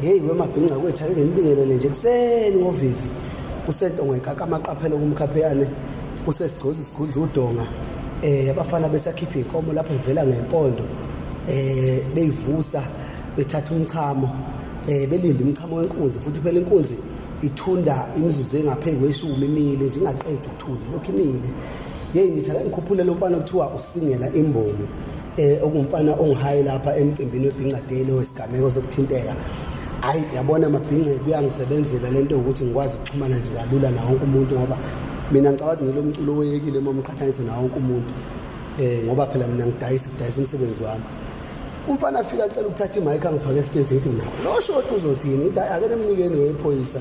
heyi wemabhinca kwethu ake nginibingelele nje kuseni ngovivi kusentongo ekaka amaqaphelo kumkhapheyane kusesigcozi sigudla udonga eh abafana besakhipha inkomo lapho ivela ngempondo eh beyivusa bethatha umchamo eh belinda umchamo wenkunzi futhi phela inkunzi ithunda imizuzu engaphezulu kweshumi imile nje ingaqedi ukuthunda lokhu imile yeyi ngithi ake ngikhuphule lo mfana kuthiwa usingela imboni eh okumfana ongihaye lapha emcimbini webhinqadeli wesigameko sokuthinteka hayi yabona amabhinqe kuyangisebenzela lento ukuthi ngikwazi ukuxhumana nje kalula nawo wonke umuntu ngoba mina ngicabanga ukuthi ngilo mculo oyekile uma umqhathanise nawo wonke umuntu eh ngoba phela mina ngidayisa ngidayisa umsebenzi wami umfana afika acela ukuthatha imayikha ngifake estage ngithi mina lo shoti uzothini ngithi ake nemnikeni wephoyisa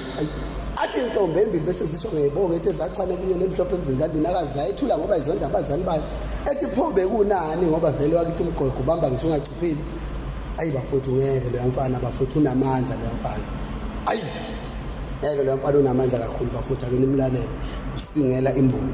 athi intombi embi bese zisho ngeyibonga ethi zachwane kunye nemhlophe emzini kandini akazi zayethula ngoba izonda abazali bayo ethi pho bekunani ngoba vele wakithi umgogo ubamba ngisho ungachiphile ayi bafowethu ngeke loya mfana bafowethu unamandla loya mfana ayi ngeke loya mfana unamandla kakhulu bafowethu ake nimlalele usingela imbongo